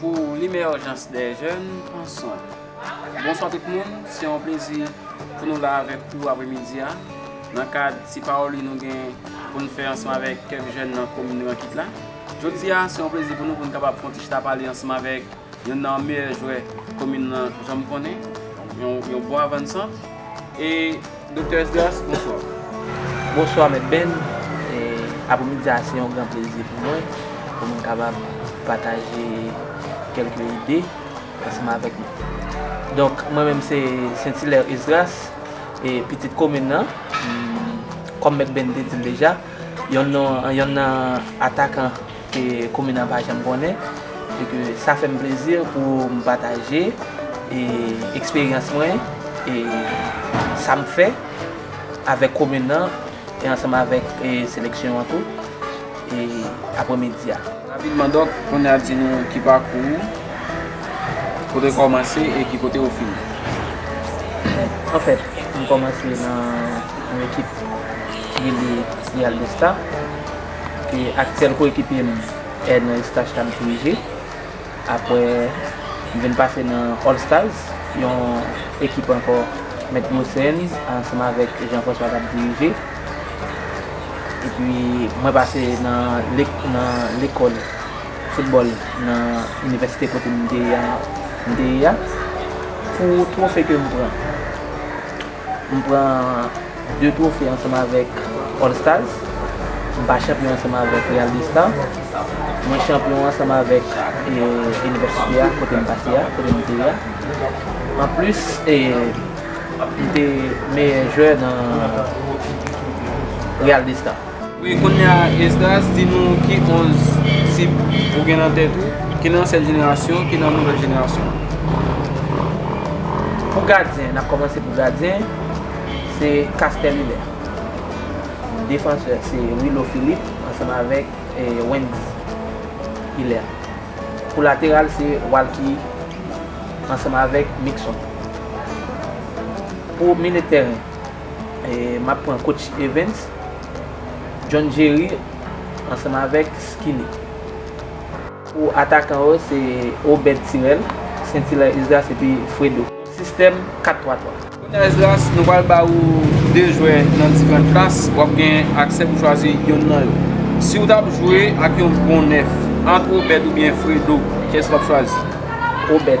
Pou limèjans dè jèn pran swen. Bonswa tout moun, se yon plezi pou nou la avèk ou aprè midi a nan kad ti pawoli nou gen pou n fè ansanm avèk kèk jèn nan komin Rankit la. Jodi a se yon plezi pou nou pou n kapab fè yon ti chita pale ansanm avèk youn nan meyè jwè komin lan janm konnen, yon bon avansan e. Doktè Esdras, bonswa. Bonswa Mèt Ben. Apremidi a se yon gran plezi pou mwen pou m kapab pataje kèlke ide ansanm avèk nou. Donk, mwen menm se Sentilè Esdras, pitit komin nan. Kòm Mèt Ben te di l deja, yonn nan atakan ke komin an pa janm konnen e ke sa fè m plezi pou m pataje eksperyans mwen e sa m fè avèk komin nan e ansanm avèk seleksyon an tou e aprè midi a. Rapidman Dòk, kounye a di nou ki pakou ou, kote w kòmanse e ki kote ou fini? Anfèt, m kòmanse nan yon ekip ki rele Real de Star. e aktyèl koyekipye m Erner Eustache ta m dirije. Apre m vin pase nan All Stars, yon ekip ankò Mèt Gosens ansanm avèk Jean François t ap dirije. Epi mwen pase nan lekòl foutbòl nan inivèsite kote m te ye a. Pou twofe ke m pran. M pran 2 twofe ansanm avèk All Stars. M pa chanpyon ansanm avèk Real de Star. Mwen chanpyon ansanm avèk inivèsite a kote m pase a, kote m te ye a. Anplis, m te meyè jwè nan Real de Star. Wi kounya Esdras di nou ki 11 disip ou gen nan tèt ou ki nan ansyen jenerasyon ki nan nouvèl jenerasyon. Pou gadyen, nap kòmanse pou gadyen, se Caster Lule. Defansè se Willow Philippe ansanm avèk Wendy Hilaire. Pou lateral se Walky ansanm avèk Mixon. Pou milye tèren. Map pran coach Evens, John Jerry ansanm avèk Skinny. Pou atakan yo se Obed Tirel, Saintilaire Esdras epi Fredo. Sistèm 4-3-3. Konya Esdras nou pral ba ou 2 jwè nan diferant klas, wap gen aksè pou chwazi yonn nan yo. Siw tap jwe ak yon bon 9 ant Obed oubyen Fredo, kyès wap chwazi? Obed.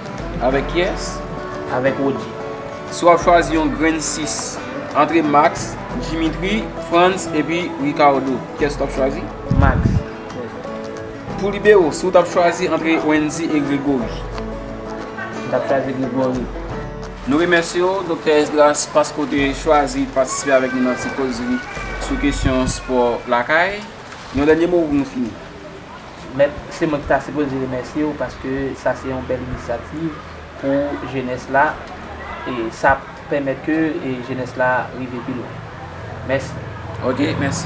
Avèk kiyès? Avèk Roody. Si wap chwazi yon grenn 6 antre Max, Dimitri, Frantz epi Ricardo, kiyès ou tap chwazi? Max. Pou libero, si ou tap chwazi antre Wendy e Gregory? M tap chwazi Gregory. Nou remèsye w, Doktè Esdras, paske ou te chwazi patisipe avèk nou nan ti kozri sou kesyon spò lakay. Yon dènye mo pou nou fini. Mèt, se mwen ki ta sipoze remèsye w paske sa se yon bèl inisyativ pou jenès la e sa ap pèmèt ke jenès la rive pi lwen. Mèsi. Ok, mèsi.